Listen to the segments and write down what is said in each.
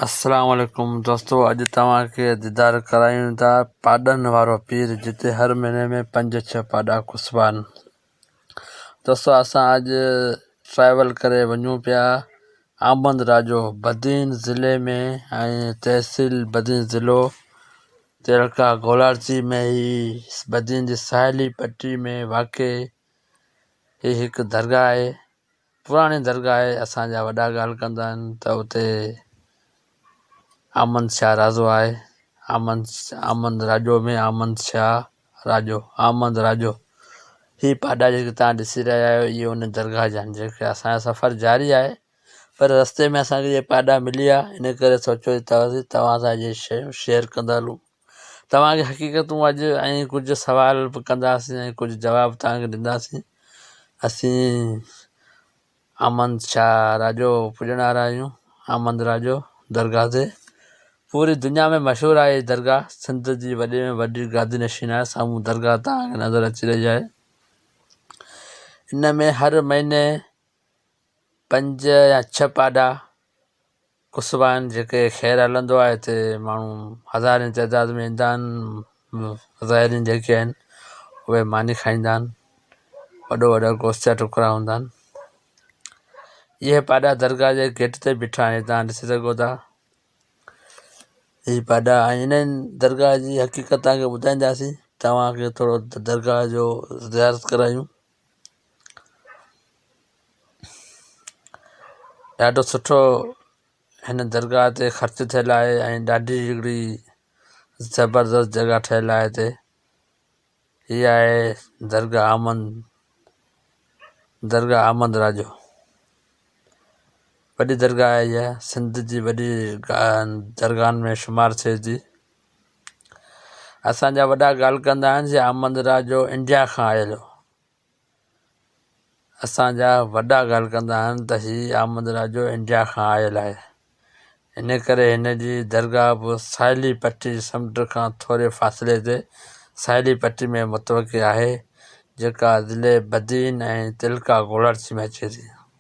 السلام عليڪم دوستو اڄ توهان کي ديدار ڪرايون ٿا پاڏن وارو پير جتي هر مهيني ۾ پنج ڇهه پاڏا کسبا آهن دوستو اسان اڄ ٽريول ڪري وڃون پيا آمد راجو بدين ضلعي ۾ ۽ تحصيل بدين ضلعو تيرڪا گولاڙچي ۾ هي بدين جي ساحلي پٽي ۾ واقع هي هڪ درگاهه آهي پراڻي درگاهه اسان جا وڏا ڳالهه ڪندا آهن ته اتي آمند شاهه راضو آهي آمند آمند راڄو ۾ آمند شاهه راڄو آمد راڄو هي پاڏا جيڪي تان ڏسي رهيا آهيو اهي ان درگاهه جا آهن جيڪي اسانجو سفر جاري آهي پر رستي ۾ اسانکي جي پاڏا ملي ويا ان ڪري سوچيو ته توهان سان اهي شيون شيئر ڪندا هلون توهان کي حقيقتون اڄ ۽ ڪجهه سوال به ڪنداسين ۽ ڪجهه جواب توهان کي ڏينداسين. اسين آمند شاهه راڄو پڄڻ وارا آهيون. آمند راڄو درگاهه تي پوري دنيا ۾ مشهور آهي هي درگاهه سنڌ جي وڏي ۾ وڏي گادي نشين آهي سامهون درگاهه توهان کي نظر اچي رهي آهي ان ۾ هر مهيني پنج يا ڇهه پاڏا قصبا آهن جيڪي خير هلندو آهي هتي ماڻهو هزارين تعداد ۾ ايندا آهن زائرين جيڪي آهن اهي ماني کائيندا آهن وڏو وڏا گوشت جا ٽڪرا هوندا آهن اهي پاڏا درگاهه جي گيٽ تي بيٺا آهن تان ڏسي سگهو ٿا هي پاڏا آهن انهن درگاهه جي حقيقت تان کي ٻڌائينداسين تواکي ٿورو درگاهه جو زيارت ڪرايون ڏاڍو سٺو هن درگاهه تي خرچ ٿيل آهي ۽ ڏاڍي هڪڙي زبردست جڳهه ٺهيل آهي هتي هي آهي درگاهه احمد درگاهه احمد راڄو وڏي درگاهه آهي اها سنڌ جي وڏي درگاهن ۾ شمار ٿئي ٿي اسان جا وڏا ڳالهه ڪندا آهن جي احمد راجو انڊيا کان آيل هو اسان جا وڏا ڳالهه ڪندا آهن ته هي احمد راجو انڊيا کان آيل آهي ان ڪري هن جي درگاهه به ساحلي پٽي سمنڊ کان ٿوري فاصلي تي ساحلي پٽي ۾ متوقع آهي جيڪا ضلعي بدين ۽ تلڪا گوڙارچي ۾ اچي ٿي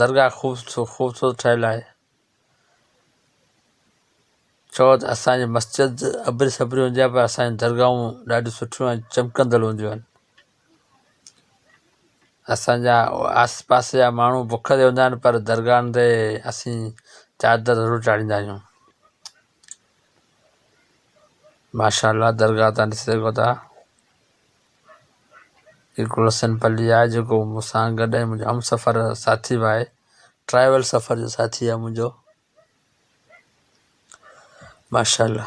درگاهه خوبصورت ٺهيل آهي. چوء ته اسان جي مسجد ابري سبري هوندي آهي پر اسان جون درگاهون ڏاڍيون سٺيون ۽ چمڪندڙ هونديون آهن. اسان جا آس پاس جا ماڻهو بک تي هوندا آهن پر درگاهن تي اسين چادر ضرور چاڙهيندا آهيون. ماشاءالله درگاهه تان ڏسي سگهو ٿا هي گلحسن پلي آهي جيڪو مون سان گڏ ۽ منهنجو همسفر ساٿي به آهي ٽرائيول سفر جو ساٿي آهي منهنجو ماشاءالله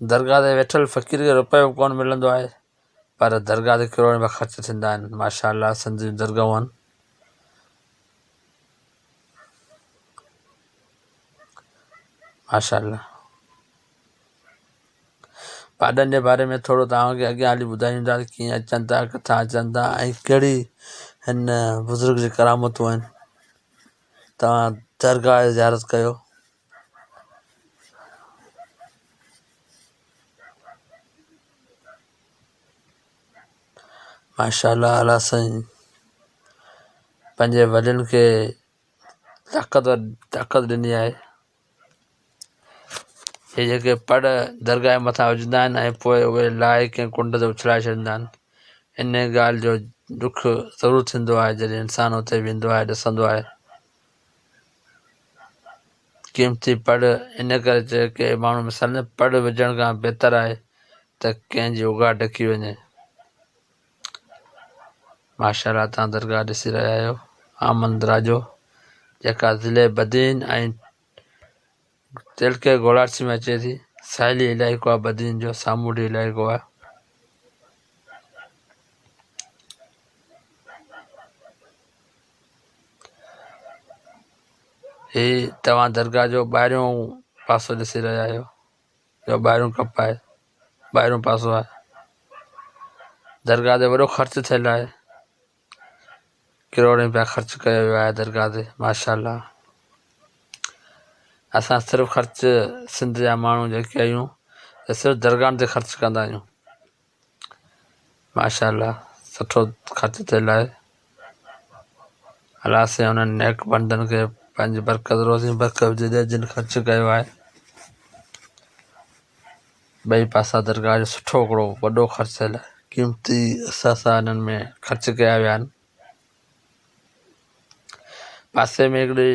درگاهه تي ويٺل فقير کي روپيو به ڪونه ملندو آهي پر درگاهه تي ڪروڙين رپيا خرچ ٿيندا آهن ماشاء الله سنڌ جون درگاهون آهن ماشاء الله پاڏن جي باري ۾ ٿورو تواکي اڳيان هلي ٻڌايون ٿا ڪيئن اچن ٿا ڪٿا اچن ٿا ۽ ڪهڙي هن بزرگ جي ڪرامتون آهن تواهان درگاهه زيارت ڪيو ماشاءالله اعليٰ سائين پنهنجي وڏن کي طاقت طاقت ڏني آهي هي جيڪي پڙ درگاهه جي مٿان وجهندا آهن ۽ پوء اهي لائي ڪنهن ڪنڊ تي اڇلائي ڇڏيندا آهن ان ڳالهه جو ڏک ضرور ٿيندو آهي جڏهن انسان اتي ويندو آهي ڏسندو آهي قيمتي پڙ ان ڪري چئي ڪي ماڻهو مثال نه پڙ وجهڻ کان بهتر آهي ته ڪنهن جي اوگاهه ڊڪي وڃي ماشاء الله تان درگاهه ڏسي رهيا آهيو آمن دراجو جيڪا ضلع بدين ۽ تيلڪي گولاڙسي ۾ اچي ٿي. ساحلي علائقو آهي بدين جو سامونڊي علائقو آهي. هي توهان درگاهه جو ٻاهريون پاسو ڏسي رهيا آهيو جو ٻاهريون ڪپ آهي ٻاهريون پاسو آهي درگاهه تي وڏو خرچ ٿيل آهي ڪروڙين رپيا خرچ ڪيا ويا آهي درگاهه تي ماشاءالله اسان صرف خرچ سنڌ جا ماڻهو جيڪي آهيون ته صرف درگاهن تي خرچ ڪندا آهيون ماشاءالله سٺو خرچ ٿيل آهي الله سائين انهن نيڪ بندن کي پنهنجي برڪت روزي برڪت جن خرچ ڪيو آهي ٻئي پاسا درگاهه جو سٺو هڪڙو وڏو خرچيل قيمتي اثاثا انهن ۾ خرچ ڪيا ويا آهن. پاسي ۾ هڪڙي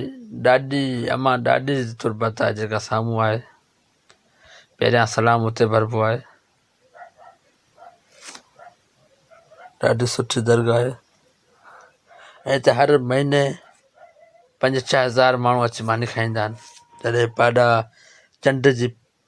ڏاڏي امان ڏاڏي جي تربت آهي جيڪا سامهون آهي پهريان سلام اتي ڀربو آهي ڏاڍي سٺي درگاهه آهي ۽ هتي هر مهيني پنج ڇهه هزار ماڻهو اچي ماني کائيندا آهن جڏهن پاڏا چنڊ جي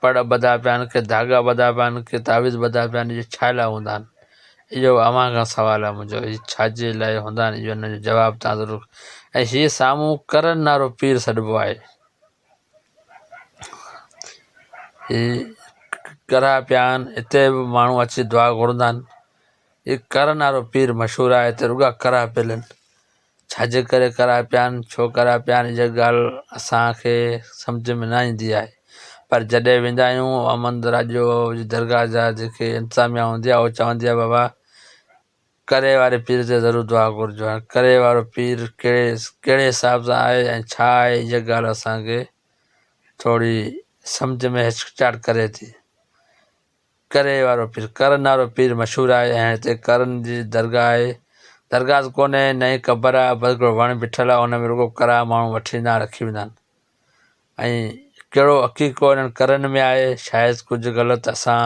پڙ ٻڌا پيا آهن، ڪي ڌاڳا ٻڌا پيا آهن، ڪي تعويذ ٻڌا پيا آهن، اهي ڇا لاء هوندا آهن؟ اهو به اوهان کان سوال آهي منهنجو، اهي ڇاجي لاء هوندا آهن، اهو ان جو جواب توهان ضرور ۽ هي سامهون ڪرن نارو پير سڏبو آهي. هي ڪرها پيا آهن، هتي به ماڻهو اچي دعا گهرندا آهن. هي ڪرن نارو پير مشهور آهي، هتي رڳا ڪرها پيل آهن. ڇا جي ڪري ڪرائي پيا آهن ڇو ڪرائي پيا آهن اها ڳالهه اسان کي سمجهه ۾ نه ايندي آهي پر جڏهن ويندا آهيون احمد راڄو جي درگاهه جا جيڪي انتظاميا هوندي آهي اهو چوندي آهي بابا ڪري واري پير تي ضرور دعا گهرجو هاڻي ڪري وارو پير ڪهڙي ڪهڙي حساب سان آهي ۽ ڇا آهي اها ڳالهه اسان کي ٿوري سمجهه ۾ هچڪچاهٽ ڪري ٿي ڪري وارو پير ڪرن وارو پير مشهور آهي ۽ هتي ڪرن جي درگاهه آهي. درگاهه ته ڪونهي نه ئي قبر آهي بس هڪڙو وڻ بيٺل آهي ان ۾ رڳو ڪرا ماڻهو وٺي ويندا آهن رکي ويندا آهن ۽ ڪهڙو عقيقو انهن ڪرن ۾ آهي شايد ڪجهه غلط اسان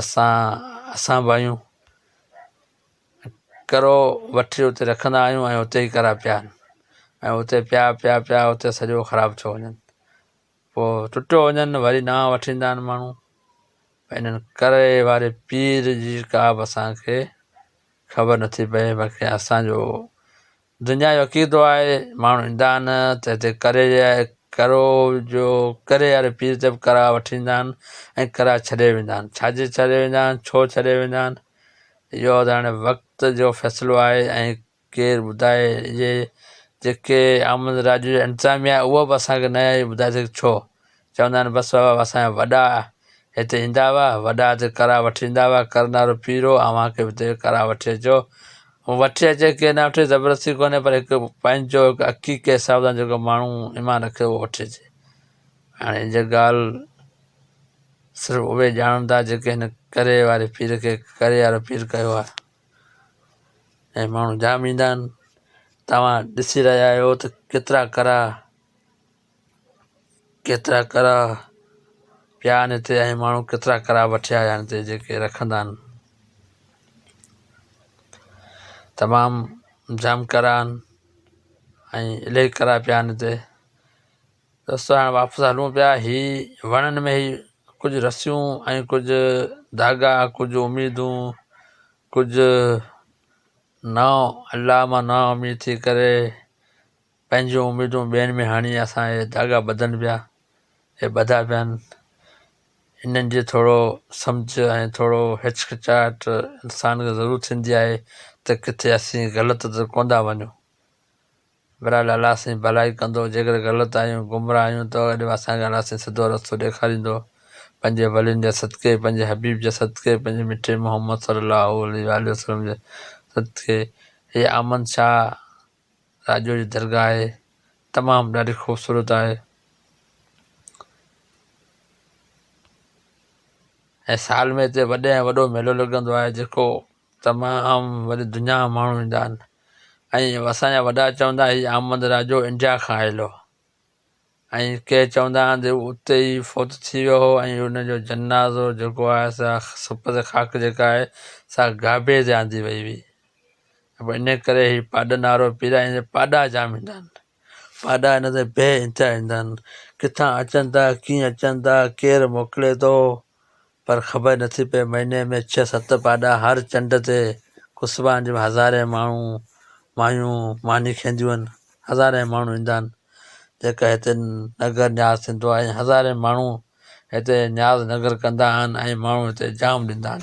اسان اسان به آهيون ڪرو وٺي اتي رکندا آهيون ۽ اتي ئي ڪرا پيا آهن ۽ اتي پيا پيا پيا اتي سڄو خراب ٿيو وڃن پوء ٽٽو وڃن وري ڏانهن وٺي ايندا آهن ماڻهو ۽ انهن ڪري واري پير جي ڪا به اسان کي خبر نٿي پئي باقي اسانجو دنيا جو عقيدو آهي ماڻهو ايندا آهن ته هتي ڪري جي آهي ڪرو جو ڪري واري پير تي به ڪرا وٺي ايندا آهن ۽ ڪرا ڇڏي ويندا آهن ڇاجي ڇڏي ويندا آهن ڇو ڇڏي ويندا آهن اهو ته هاڻي وقت جو فيصلو آهي ۽ ڪير ٻڌائي جي جيڪي آمد راڄ جي انتظاميا آهي اهو به اسانکي نه آهي ٻڌائي سگهي ڇو چوندا آهن بس بابا اسانجا وڏا هتي ايندا هئا وڏا هتي ڪرا وٺي ويندا هئا ڪر نارو پير هو اوهان کي به هتي ڪرا وٺي اچو هو وٺي اچي ڪي نه وٺي زبردستي ڪونهي پر هڪ پنهنجو هڪ حقيقي حساب سان جيڪو ماڻهو ايمان رکي اهو وٺي اچي هاڻي ان جي ڳالهه صرف اهي ڄاڻن ٿا جيڪي هن ڪري واري پير کي ڪري وارو پير ڪيو آهي اهي ماڻهو جام ايندا آهن توهان ڏسي رهيا آهيو ته ڪيترا ڪرا ڪيترا ڪرا پيا آهن هتي اهي ماڻهو ڪيترا ڪرا وٺي آيا آهن هتي جيڪي رکندا آهن تمام جام ڪرا آهن ۽ الائي ڪرا پيا آهن هتي رستو هاڻي واپس هلون پيا. هي وڻن ۾ هي ڪجهه رسيون ۽ ڪجهه ڌاڳا، ڪجهه اميدون، ڪجهه نا الله مان نا اميد ٿي ڪري پنهنجون اميدون ٻين ۾ هڻي اسان هي ڌاڳا ٻڌن پيا. هي ٻڌا پيا آهن. انهن جي ٿورو سمجهه ۽ ٿورو هچڪچاهٽ انسان کي ضرور ٿيندي آهي ته ڪٿي اسين غلط ته ڪونه ٿا وڃون. بھرحال الله سائين ڀلائي ڪندو، جيڪڏھن غلط آھيون، گمراھ آھيون ته اڏيو اسان کي الله سائين سڌو رستو ڏيکاريندو، پنھنجي ولين جي صدقي، پنھنجي حبيب جي صدقي، پنھنجي مٺي محمد صلي الله عليه وآله وسلم جي صدقي، ھيء آمن شاھ راڄو جي درگاھ آھي، تمام ڏاڍي خوبصورت آھي ۽ سال ۾ ھتي وڏي ۾ وڏو ميلو لڳندو آھي جيڪو تمام وڏي دنيا مان ماڻهو ايندا آهن ۽ اسان جا وڏا چوندا هي احمد راجو انڊيا کان آيل هو ۽ ڪي چوندا آهن ته اتي ئي فوت ٿي ويو هو ۽ ان جو جنازو جيڪو آهي سا سپت خاڪ جيڪا آهي سا گابي تي آندي وئي هئي ۽ ان ڪري هي پاڏا نارو پيرا ۽ پاڏا جام ايندا آهن پاڏا ان لاء بي انتها ايندا آهن ڪٿان اچن ٿا ڪيئن اچن ٿا ڪير موڪلي ٿو پر خبر نه ٿي پئي مهيني ۾ ڇهه ست پاڏا هر چنڊ تي قصبا آهن جنهن ۾ هزارين ماڻهو مايون ماني کينديون آهن هزارين ماڻهو ايندا آهن جيڪا هتي نگر نياز ٿيندو آهي ۽ هزارين ماڻهو هتي نياز نگر ڪندا آهن ۽ ماڻهو هتي جام ڏيندا آهن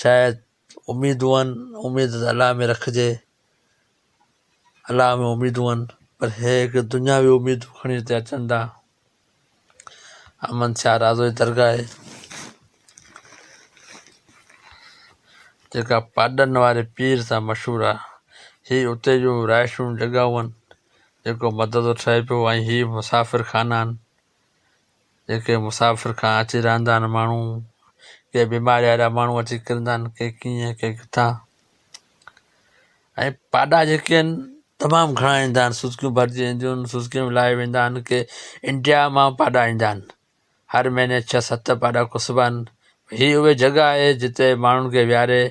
شايد اميدون آهن، اميد ته الله ۾ رکجي، الله ۾ اميدون آهن، پر هي هڪ دنياوي اميدون کڻي هتي اچن ٿا. احمد شاهه رازو جي درگاهه آهي، جيڪا پاڏن واري پير سان مشهور آهي. هي اتي جون رهائشون جڳهون آهن، جيڪو مدرسو ٺهي پيو ۽ هي مسافر خانا آهن. جيڪي مسافر کان اچي رهندا آهن ماڻهو ڪي بيماري وارا ماڻهو اچي ڪرندا آهن ڪي ڪيئن ڪي ڪٿان ۽ پاڏا جيڪي آهن تمام گهڻا ايندا آهن سوسڪيون ڀرجي وينديون آهن سوسڪيون به لاهي ويندا آهن ڪي انڊيا مان پاڏا ايندا آهن هر مهيني ڇهه ست پاڏا کوسبا آهن هي اهي جڳهه آهي جتي ماڻهن کي ويهاري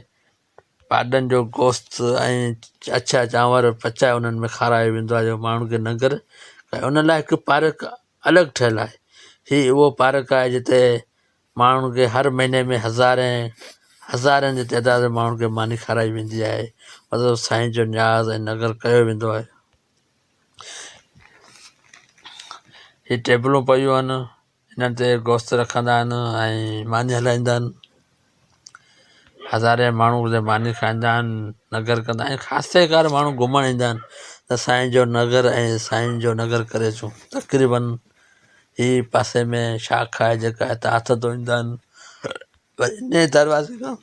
پاڏن جو گوشت ۽ اڇا چانور پچائي انهن ۾ کارايو ويندو آهي جو ماڻهن کي ننگر ۽ ان لاء هڪ پارڪ الڳ ٺهيل آهي هي اهو پارڪ آهي جتي ماڻهن کي هر مهيني ۾ هزارين هزارين جي تعداد ۾ ماڻهن کي ماني کارائي ويندي آهي مطلب سائين جو نياز ۽ ننگر ڪيو ويندو آهي هي ٽيبلون پيون آهن انهن تي گوشت رکندا آهن ۽ ماني هلائيندا آهن هزارين ماڻهو اتي ماني کائيندا آهن نگر ڪندا آهن خاصي ڪار ماڻهو گهمڻ ايندا آهن ته سائين جو نگر ۽ سائين جو نگر ڪري اچون تقريبن هي پاسي ۾ شاخ آهي جيڪا هتي هٿ ڌوئيندا آهن وري انهي دروازي کان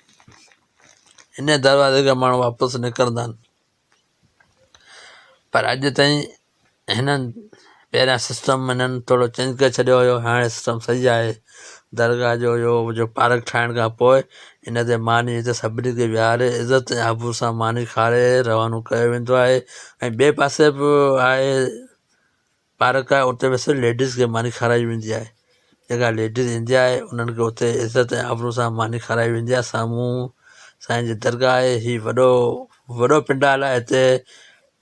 انهي دروازي کان ماڻهو واپس نڪرندا آهن پر اڄ تائين هنن پهريان سسٽم هنن ٿورو چينج ڪري ڇڏيو هيو هاڻي سسٽم صحيح آهي درگاهه جو اهو جو پارڪ ٺاهڻ کان پوء ان تي ماني هتي سڀني کي ويهاري عزت ۽ آبرو سان ماني کاري روانو ڪيو ويندو آهي ۽ ٻئي پاسي به آهي پارڪ آهي اتي به صرف ليڊيز کي ماني کارائي ويندي آهي جيڪا ليڊيز ايندي آهي انهن کي اتي عزت ۽ آبرو سان ماني کارائي ويندي آهي سامهون سائين جي درگاهه آهي هي وڏو وڏو پنڊال آهي هتي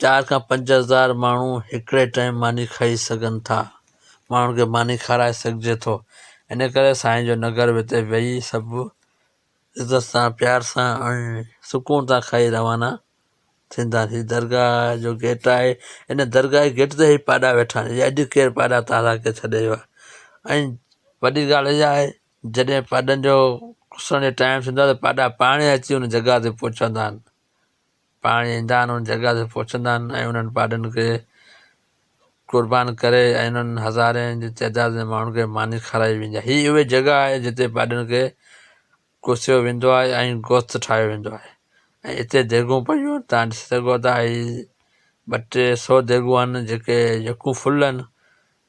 چار کان پنج هزار ماڻهو هڪڙي ٽائيم ماني کائي سگهن ٿا ماڻهن کي ماني کارائي سگهجي ٿو ان ڪري سائين جو نگر به هتي ويهي سڀ عزت سان پيار سان ۽ سڪون سان کائي روانا ٿيندا ھي درگاھ جو گيٽ آھي ان درگاھ جي گيٽ تي ھي پاڏا ويٺا آھن اڄ ڪير پاڏا تازا ڪري ڇڏي ويو آھي ۽ وڏي ڳالھ اھا آھي جڏھن پاڏن جو اسان جو ٽائيم ٿيندو آھي ته پاڏا پاڻ اچي ان جڳاھ تي پھچندا آھن پاڻ ايندا آهن، ان جڳهه تي پهچندا آهن ۽ انهن پاڏن کي قربان ڪري ۽ انهن هزارين جي تعداد ۾ ماڻهن کي ماني کارائي ويندي آهي. هي اهي جڳهه آهي جتي پاڏن کي ڪوسيو ويندو آهي ۽ گوست ٺاهيو ويندو آهي ۽ اتي ديڳون پيون آهن، توهان ڏسي سگهو ٿا هي ٻه ٽي سو ديڳون آهن جيڪي يڪون ڦل آهن،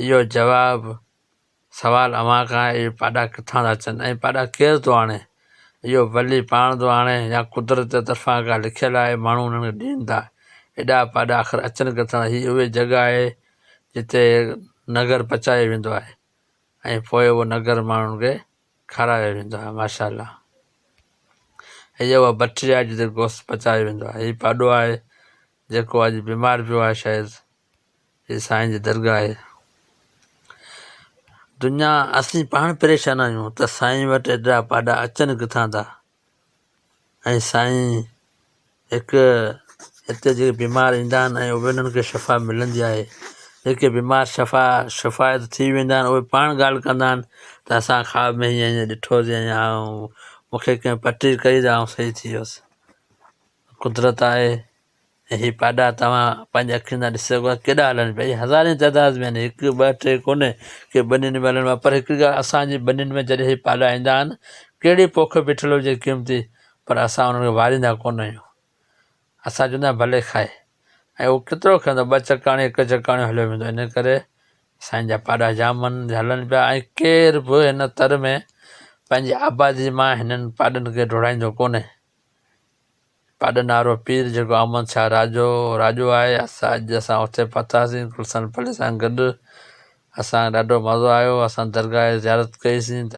اهو جواب سوال اوهان کان آهي اهي پاڏا ڪٿان ٿا اچن ۽ پاڏا ڪير ٿو آڻي؟ اهو ولي پاڻ ٿو آڻي يا قدرت جي طرفان ڪا لکيل آهي ماڻهو انهن کي ڏين ٿا؟ ايڏا پاڏا آخر اچن ڪٿان ٿا؟ هي اهي جڳهه آهي جتي نگر پچايو ويندو آهي ۽ پوء اهو نگر ماڻهن کي کارايو ويندو آهي ماشا الله هي اها بٺي آهي جتي گوشت پچايو ويندو آهي هي پاڏو آهي جيڪو اڄ بيمار پيو آهي شايد هي سائين جي درگاهه آهي. دنيا اسين پاڻ پريشان آهيون ته سائين وٽ ايڏا پاڏا اچن ڪٿان ٿا ۽ سائين هڪ هتي جي بيمار ايندا آهن ۽ اهي انهن کي شفا ملندي آهي جيڪي بيمار شفا شفايت ٿي ويندا آهن اهي پاڻ ڳالهه ڪندا آهن ته اسان خواب ۾ هيئن هيئن ڏٺو سي ۽ آئون مون کي ڪنهن پٽي ڪئي ته آئون صحيح ٿي ويس قدرت آهي هي پاڏا توهان پنهنجي اکين سان ڏسي سگهو ٿا ڪيڏا هلن پيا. اهي هزارين تعداد ۾ آهن. هڪ، ٻه، ٽي ڪونهي ڪي ٻنين ۾ هلن مان پر هڪڙي ڳالهه اسان جي ٻنين ۾ جڏهن هي پاڏا ايندا آهن ڪهڙي پوک بيٺل هجي قيمتي پر اسان انهن کي واريندا ڪونه آهيون. اسان چوندا آهيون ڀلي کائي ۽ اهو ڪيترو کائيندو ٻه چڪاڻي هڪ چڪاڻيون هليو ويندو ان ڪري سائين جا پاڏا جام هلن پيا ۽ ڪير به هن تر ۾ پنهنجي آبادي مان هنن پاڏن کي ڊوڙائيندو ڪونهي. پاڏ نارو پير جيڪو احمد شاهه راڄو راڄو آهي اسان اڄ اسان اتي پهتاسين گلشن پلي سان گڏ اسان کي ڏاڍو مزو آيو اسان درگاهه جي زيارت ڪئي سين.